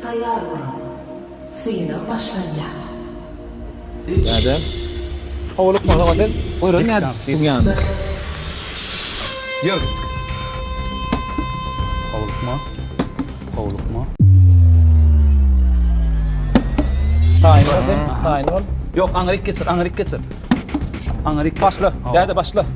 Taýýar boluň! Synag başlanýar! Üç. Iki. Bir.